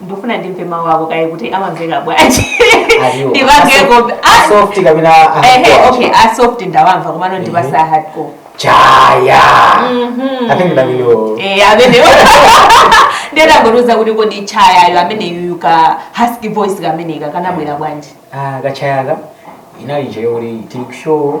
ndikufuna ndimve mawu ako kaye kuti amamveka bwanji Aliwo. ndipangeko Ah, Soft kapena ah, ehe, hardcore. okay asoft ndawamva komano ndipatse hardcore Chaya. I think that you. Eh, ameneyo nde tangotiuza kuti kodi chayayo ameneyu ka husky voice kameneka kanabwera bwanji Ah, ka Chayaka inali nje yoli tikushow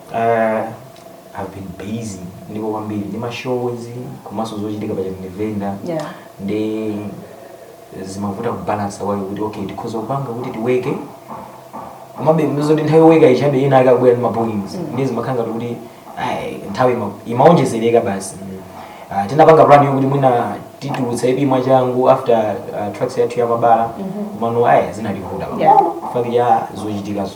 Uh, I've been busy ndipo kwambiri ndi mashows komanso zochitika pa chakundivenda yeah. nde zimavuta kubalansa kwake kuti okay tikhoza kupanga kuti tiweke komabe mizoti nthawi yoweka ichabe ina akabwera ndi mapoints mm. nde zimakhala ngati kuti ai, nthawi ima- imaonjezereka basi uh, tinapanga plan yokuti mwina titulutsa EP mwachangu after uh, track yathu ya mabala komano ayi zinativuta Yeah. chifukwa cha zochitikazo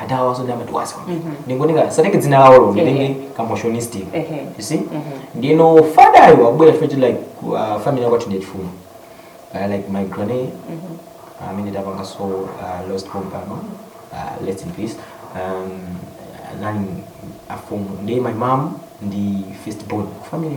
adawa zonde amatiwasa ndingonika satenge dzina lawolo nditenge kamotionistic Ehe. you see ndeno Fadayo akubwera chifukwa choti like uh, family yakwathu ndi chifumu uh, like my granny amene tapanga so uh, lost pompano uh, rest in peace um, anali afumu nde my mom ndi first born ku family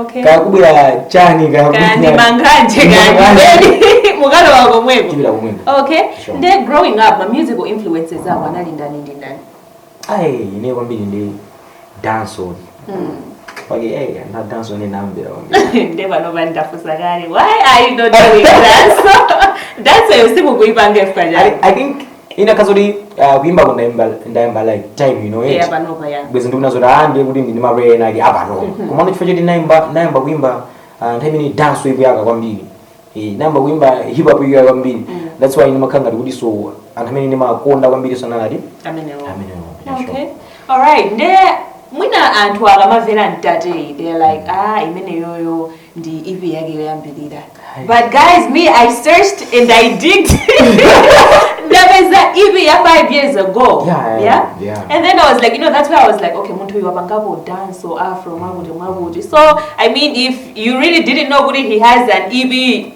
okay kakubwera chani kandi manganje kandi mukalowa komweko tibira kumwembe okay Sure. nde growing up ma musical influences ako anali ndani ndi ndani ayi ine kwambiri ndi dancehall pake eh na dancehall ndinamvera kwambiri nde pano pandafunsa kale why are you not doing dancehall dancehall yo simukuipanga I, chifukwa chani i think ikanakhala kuti ah, kuimbako ndayamba ndayamba like time ino Yeah, eti panopa, yeah. bwezi ndikunena zoti ah ndiye kuti ndine mapre ena ali apano komano chifukwa choti nayamba nayamba kuimba ah, nthawi imene dancehall ikuyaka kwambiri Eh, nayamba kuimba hip hop ikuyaka kwambiri that's why ndimakhala ngati kuti so anthu amene ndimakonda kwambiri so nalati amenewo amene yeah, sure. okay alright nde mwina anthu akamamvera mtate they're like ah imeneyoyo ndi EP yake yoyambirira but guys me I searched and I digged ndapeza EP ya 5 years ago Yeah, yeah, yeah. and then I was like you know that's where I was like okay munthu uyu apangapo dance or afro mwakuti mwakuti so I mean if you really didn't know kuti he has an EP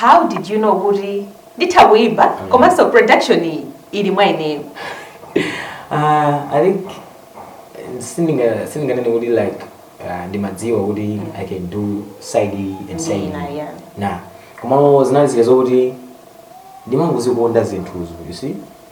how did you know kuti nditha kuimba mm. komanso production iyi ili mwa ineyo uh, i think sindinganene kuti like uh, ndimadziwa kuti mm. i can do side A and side B. yeah. na komano zinali zile zokuti ndimangozikonda zinthuzo you see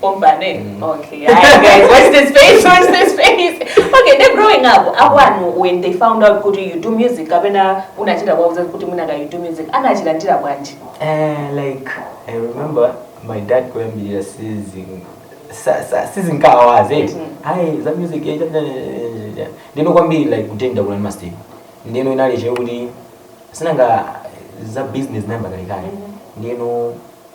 Pombane. Mm. Okay, yeah, guys, watch this space, watch this space. Okay, then growing up, akwanu when they found out kuti you do music, kapena unachita kuwauza kuti munaka you do music, anachilandira bwanji? Eh, like I remember my dad kuyambira sizing sa- sa- sizinkawaze eti Mhm. ayi za music eh, cha- cha- cha- cha. ndeno kwambiri like kutenda kuna masteni ndeno inali che kuti sinanga za business nayamba kalekale ndeno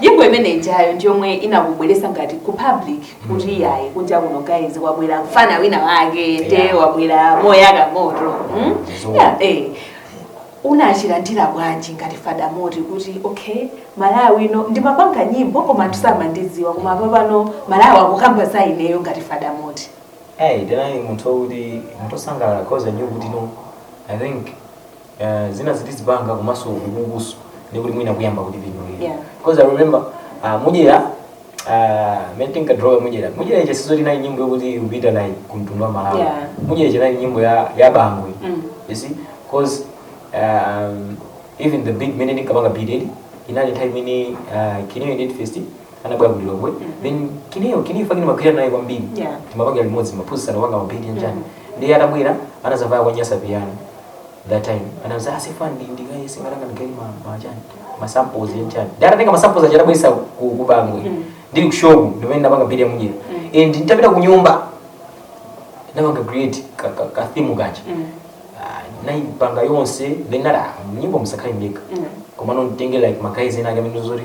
Nyimbo imene ijayo ndi yomwe inakubweretsa ngati ku public kuti yayi kunja kuno guys kwabwera mfana wina wake nde wabwera moyaka moto mm? yeah, eh. unachilandira bwanji ngati fadamoti kuti okay malawi no ndimapanga nyimbo koma samandidziwa koma papano malawi akukamba za ineyo ngati fadamoti Hey, then I want to the Mutosanga cause I knew what you know. I think uh, zina zoti tizipanga komanso ukukuso ndikuti mwina kuyamba kuti pinolera Yeah. because i remember uh, mudyera uh, mene tinkadrowa mudyera mudyera iche sizoti inali nyimbo yokuti ipita ayi kumtundu wa malawi Yeah. mudyera iche inali nyimbo ya, ya bangwe Mm. you see because um, even the beat mene tinkapanga beat inali nthawi imene uh, kineyo date fest anabwera ku lilongwe then kineyo kineyo fakini ndimagwira naye kwambiri Yeah. timapanga limodzi ndimaphunzitsana kupanga ma beat ndi chani ndiye atabwera anazabwera ya nyasa piyano that time anauza asifani ah, ndi guy singana kana gani ma ma chani ma samples ya chani dara tenga ma samples ajara bwesa ku ku bangu mm. ndiri ku show ndo menda banga bidi ya mujira mm. and nitapita ku nyumba na banga create ka ka, ka theme gacha mm. uh, ah, na banga yonse then nara nyimbo msakai mika mm. komano nitenge like ma guys ena gamino zuri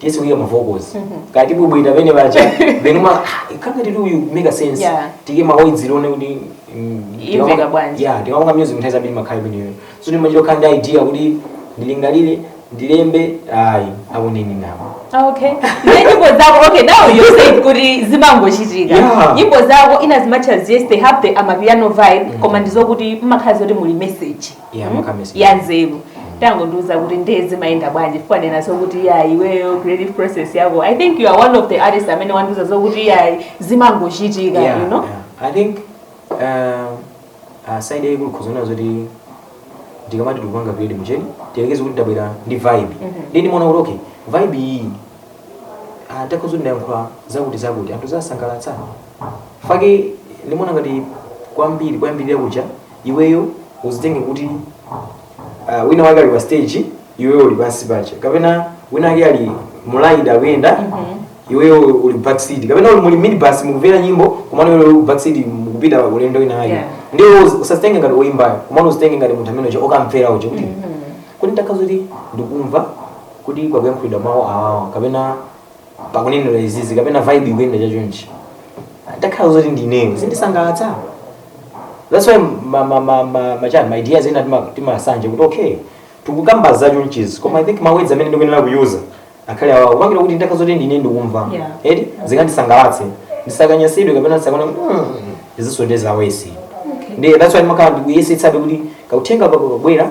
tiyese kuika ma vocals kaya tibwebweta penapake then ma ah, kangati akuti a make sense Yeah. tike maoidziro one kuti mm, Imveka tikapanga- bwanji. yeah tikapanga music nthawi zambiri imakhala imeneyo sindimachita kukhala ndi idea kuti ndilingalire ndilembe ayi akuneni nako okay then nyimbo zako okay now you say kuti zimangochitika Yeah. nyimbo zako inde zimakhala they have the amapiano vibe koma ndizokuti mmakhala zoti muli message Yeah, Mm? muli ka message ya nzeru tangondiuza kuti ndiye zimayenda bwanji chifukwa ukunena zokuti ya iweyo creative process yako i think you are one of the artists amene wandiuza zokuti ya zimangochitika Yeah, you know yeah. I think um, uh, side yaikulu ndikuona zoti ndikamati tikupanga grade mchani tiyerekeze kuti tabwera ndi vibe ndi ndimaona kuti okay vibe iyi ah, ndakhoza ndayankhula zakuti zakuti anthu zawasangalatsa fake ndimaona ngati kwambiri kwambiri yakucha iweyo uzitenge kuti uh, wina wake ali pa stage iweyo uli pansi paja kapena wina wake ali mu ride akuyenda iweyo uli backseat kapena uli muli minibus mukumvera nyimbo kumano iweyo uli backseat mukupita pa ulendo wina wake Yeah. ndiye iwe uzi- usazitenge ngati oyimbayo kumano uzitenge ngati munthu amene uja okumvera uja kuti kuti ndikakhala kuti ndikumva kuti pakuyankhulidwa mawu awawa kapena pakunenedwa izizi kapena vibe ikuyenda chonchi ndikakhala zoti ndineyo zindisangalatsa that's why ma, ma, ma, ma, machani ma ideas ena tima- timasanja kuti okay tikukamba za chonchizi koma i think ma words amene ndikuyenera kuyuza akhale awa kupangira kuti ndikakhala zoti ndine ndikumva Yeah. eti zikandisangalatse ndisakanyansidwe kapena ndisakana mm, izinso nde za worse Okay. ndiye that's why ndimakhala ndikuyesetsabe kuti kauthenga kakabwera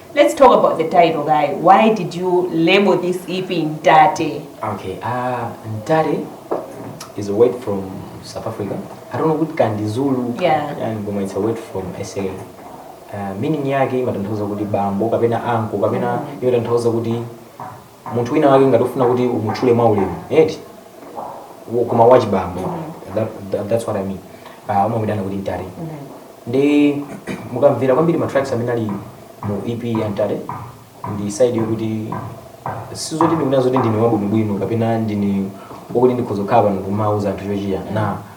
Let's talk about the title, guy. Why did you label this EP Ntate? Okay, uh, Ntate is a word from South Africa. I don't know what can the Zulu yeah. and Goma, it's a word from SA. Uh, meaning yake imatanthauza kuti bambo kapena anko kapena mm. imatanthauza kuti munthu wina wake ngati ufuna kuti umutchule mwaulemu eti Wo- koma wachibambo that, that, that's what i mean uh, umamutchula kuti mtate ndiye mukamvera kwambiri matracks amene ali mu ep ya mtate ndi side yokuti sizoti ndikunena zokuti ndine wabwinobwino kapena ndine wokuti ndikhoza kukhala pano kumauza anthu chochita na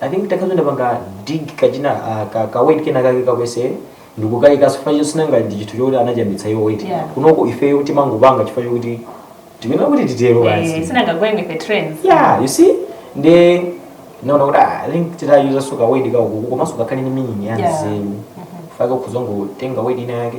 i think takhazondipanga dig kachina ah, ka, ka weight kena kake kalikonse ndikukayika chifukwa choti sinanga ndi chinthu choti anachambitsa iwo weight Yeah. kunoko ifeyo timangopanga chifukwa chokuti timayenera kuti titero Eh, basi sinangagwere ndife trends yeah you see nde naona kuti ah, i think titayuzako weight kathu komanso kakhale ni meaning ya Yeah. nzeru faka kuzangotenga weight ina yake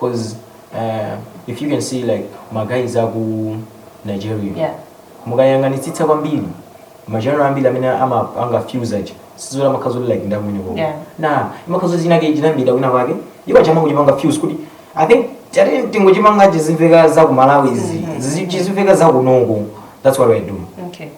cause uh, if you can see like maguys aku nigeria yeah. mukayang'anitsitsa kwambiri ma genre ambiri amene ama- angafuse aja sizola makhazoli like ndakumeneko Yeah. nde imakhazoli chinake chinambira kwina kwake iwo achina kuchipanga fuse kuti i think choti tingochipanga chizimveka za ku malawi izi Zizi- chizimveka za kunoko that's what i do okay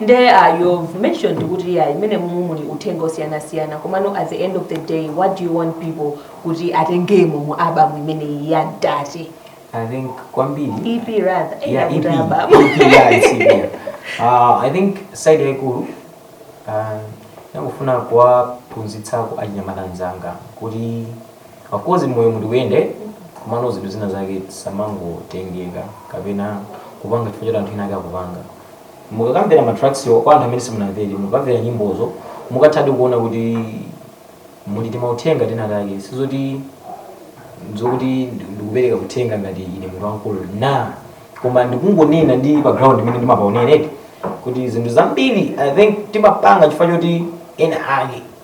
nde uh, you've mentioned kuti EP imene mumu muli uthenga wosiyanasiyana komano at the end of the day what do you want people kuti atengemo mu album imeneyi ya dati i think kwambiri ep rather eh, yeah, nakuti EP, album. EP, yeah, it's EP, yeah. Uh, i think side yaikulu uh, ndimafuna kuwaphunzitsako achinyamata anzanga kuti Of course moyo ndi kuyenda komano zinthu zina zake tisamangotengeka kapena kupanga chifukwa choti anthu ena ake akupanga mukakamvera matrackswo kwa anthu amene simunamvere mukamvera nyimbozo mukathadi kuona kuti muli timauthenga tina take sizoti zokuti ndi- ndikupereka uthenga ngati ine munthu wamkulu no koma ndikungonena ndi pa ground mmene ndimapaonera eti kuti zinthu zambiri i think timapanga chifukwa choti ena ake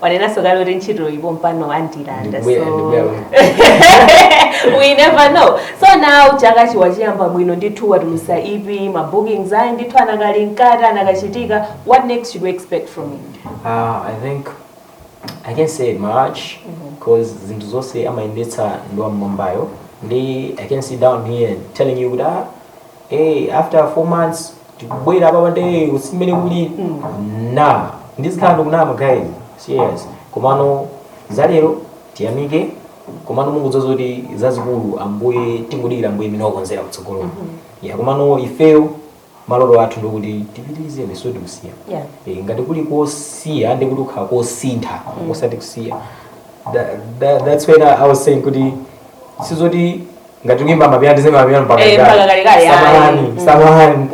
wanenanso kale kuti ntchitoyi pompano andilanda Ndikubwera, so ndikubwera bwana. we never know so now chaka chi wachiyamba bwino ndithu watulusa EP ma bookings ayi ndithu anakali mkati anakachitika what next should we expect from you Uh, I think I can say March because zinthu zonse amayendetsa ndi wamwambayo ndi I can sit down here telling you kuti ah, hey, after four months tikubwera papa nde m'sinene kuli nama ndizikhala ndikunama guys serious komano zalero tiyamike komano munkuza zoti zazikulu ambuye tingodikira ambuye mmene wakonzera kutsogolo ya komano ifeyo maloto athu ndikuti tipitirize sizoti kusiya Yeah. Eh, ngati kuli kosiya ndikuti kukhala kosintha osati kusiya Tha- tha- that's when I I was saying kuti sizoti ngati kuimba mapiyano tizimba mapiyano mpaka Eh, mpaka kalekale, kalekale, samahani ayi. samahani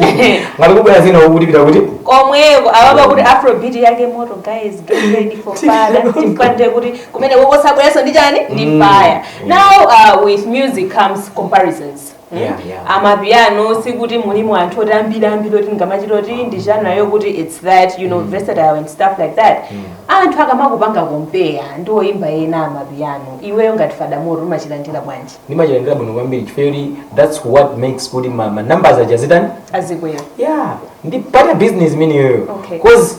ngati kukubwera zina ukutipeza kuti komweko apapa kuti afrobeat yake moto guys get ready for fire cause kuti kumene kukuzabweranso ndi chani ndi Mm. fire now uh, with music comes comparisons Mm. Yeah, yeah. amapiano sikuti mulimu anthu oti ambiri ambiri oti ungamachite oti ndi genre yokuti its that you know versatile and stuff like that Anthu akamakupanga compare ndi oyimba ena amapiano, iweyo ngati Fada Moti umachilandira bwanji? Ndimachilandira bwino kwambiri chifukwa choti that's what makes kuti ma, ma numbers aja azitani? Azikwera. Yeah, ndi part ya business imeneyoyo. Okay. Cause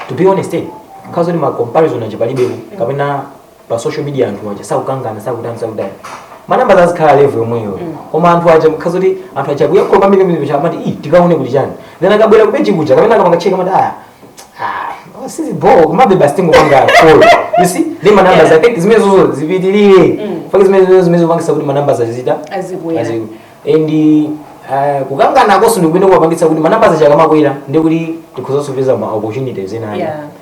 to be honest, eh, nkhadzakhala kuti ma comparison aja palibepo kapena pa social media anthu aja sakukangana sakutani sakutani manambazo azikhala level yomweyo koma anthu aja nkhadzakhala kuti anthu aja kuyakhula kwambiri kwambiri kuti amati ii tikaone kuti chani then akabwera kupeji kuja kapena akapanga cheka amati aya ah, sisi bo kumabe basi tingopanga call you see ndi manamba za keki zimene zozo zipitirire faki zimenezozo zimene zopangitsa kuti manambazo azitani Azikwera. aziku and uh, kukanganakonso ndikupenda kuwapangitsa kuti manamba aja akamakwera ndikuti tikhozanso kupeza ma opportunities ena Yeah.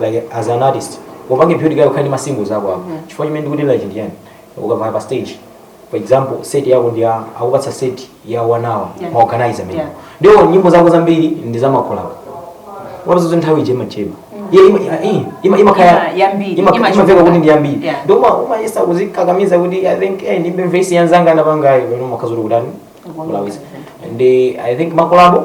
like as an artist upange build kaye ukhale ndi ma singles ako ako chifukwa chimene ndikuti like ndi yani ukavaya pa stage for example set yako ndi ya- akupatsa set ya one hour Yeah. ma organizer mene Yeah. ndiye nyimbo zako zambiri ndi za makolabo upeza kuti nthawi ije macheba iye ima- ima- eh, ima- imakhala Ima- yambiri, ima- imachoka. imamveka kuti ndi yambiri Yeah. ndiye uma- umayesa kuzikakamiza kuti i think eh, ndimbe vesi ya mnzanga anapangayo pano makazulu kutani Kukonda kulawisa zinthu. ndi i think makolabo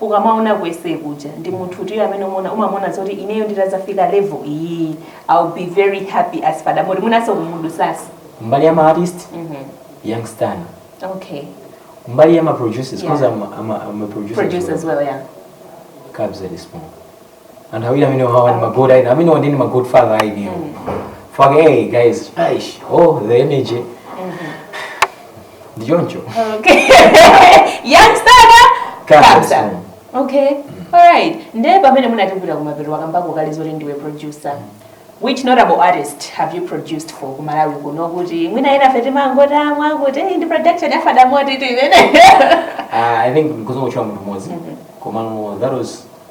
ukamaona ku SA kuja ndi munthu uti iyo amene umona umamona zoti ineyo nditazafika level iyi I'll be very happy as Fada Moti mwinanso kumudutsatsa mbali ya ma artist mhm Young Stunna okay mbali ya ma producers because Yeah. I'm, a- I'm, a- I'm a producer, produce as well yeah Kabza De Small anthu awiri amene wawa ndi magod ayi amenewa ndi ndi magod father ayi ineyo fuck hey guys aish oh the energy ndi choncho Okay. Young Stunna Comes Kabza. home. Okay. Alright. Ndiye pamene tikubwera kumapeto wakambapo kale zoti ndiwe producer. Which notable artist have you produced for ku Malawi kuno kuti mwina enafe timangomva osadziwa kuti hey, ndi production ya Fada Moti-tu imene. Ah, i think ndikhoza kungotchula munthu mmodzi komano that was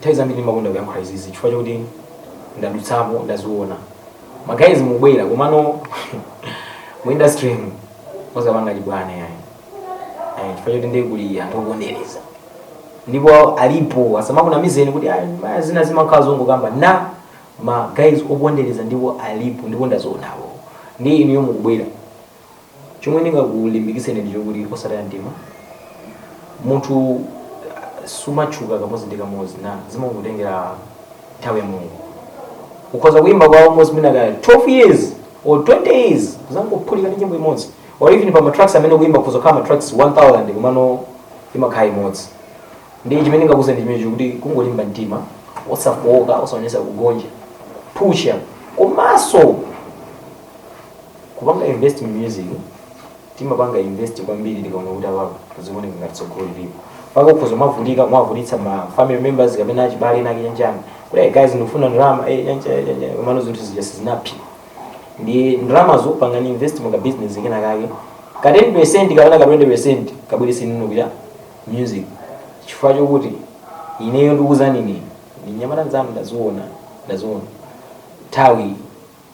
Nthawi zambiri ndimakonda kuyankhula izi izi chifukwa chakuti ndadutsapo ndaziona ma guys mukubwera komano mu industry mu osapanga chibwana yani eh chifukwa chakuti ndiye kuli anthu okondereza ndipo alipo asamakunamizeni kuti "Ah, ma- zina zimakhala zongokamba na ma guys okondereza ndipo alipo ndipo ndazionapo ndi inuyo mukubwera chomwe ndingakulimbikitseni ndi chokuti osataya mtima munthu ah, sumatchuka kamodzi ndi kamodzi na zimangotengera nthawi ya mulungu ukhoza kuimba kwa almost mwina kaya 12 years or 20 years kudzangophulika ndi nyimbo imodzi or even pa matracks amene waimba kuzokwana tracks 1000 komano imakhala imodzi ndiye chimene ndingakuuzeni ndi chimenecho kuti kungolimba mtima osafooka osaonesa kugonja pusha komanso kupanga invest mu music timapanga invest kwambiri tikaona kuti apapo zikuoneka ngati tsogolo lilipo mpaka ukhoza mwavutika mwavutitsa ma family members kapena achibale ena akuchani kuti "Hey, guys ndikufuna ndalama eh, nyanja, nyanja," komano zinthu zija sizinaphi ndi ndalama zopanga invest mu ka business kena kake ka 10 percent kapena ka 20 percent kabweretse kuya music chifukwa chokuti ineyo ndikuuzani inu ndine mnyamata nzanu ndaziona ndaziona nthawi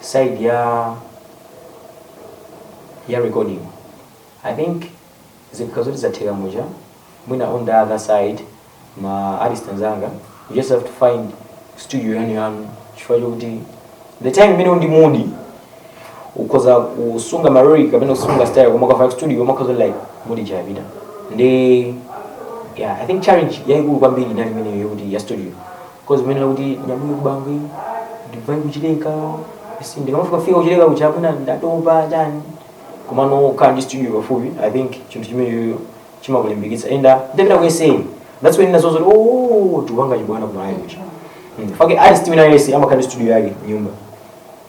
side ya ya recording i think zikhala zoti zatheka muja mwina on the other side ma artist anzanga you just have to find studio yanu yanu chifukwa chokuti the time imene uli ndi mood ukhoza kusunga marori kapena kusunga style koma ukafika studio umakhoza like mood yapita ndiye yeah i think challenge yaikulu kwambiri inali imeneyo yokuti ya studio 'cause mmene kuti nyabwino kubangwi ndi Bvumbwe ku Chileka si ndikamafika fika ku Chileka kuja mwina ndatopa chani komano ukakhala ndi studio pafupi i think chinthu chimeneyo chimakulimbikitsa and uh, nditapita ku SA that's when ndinazaona kuti oh tikupanga chibwana ku Malawi kuja Mm. fake artist wina yese amakhala ndi studio yake m'nyumba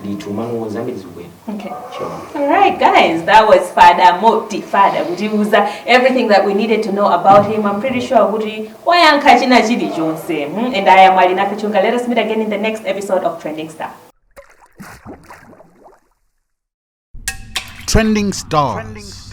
ndithu mano zambiri zikubwera Okay. sure All right, guys, that was Fada Moti Fada kutiuza everything that we needed to know about him. I'm pretty sure kuti wayankha china chilichonse. Hmm? And I am Alina Kachunga. Let us meet again in the next episode of Trending Star. Trending Stars.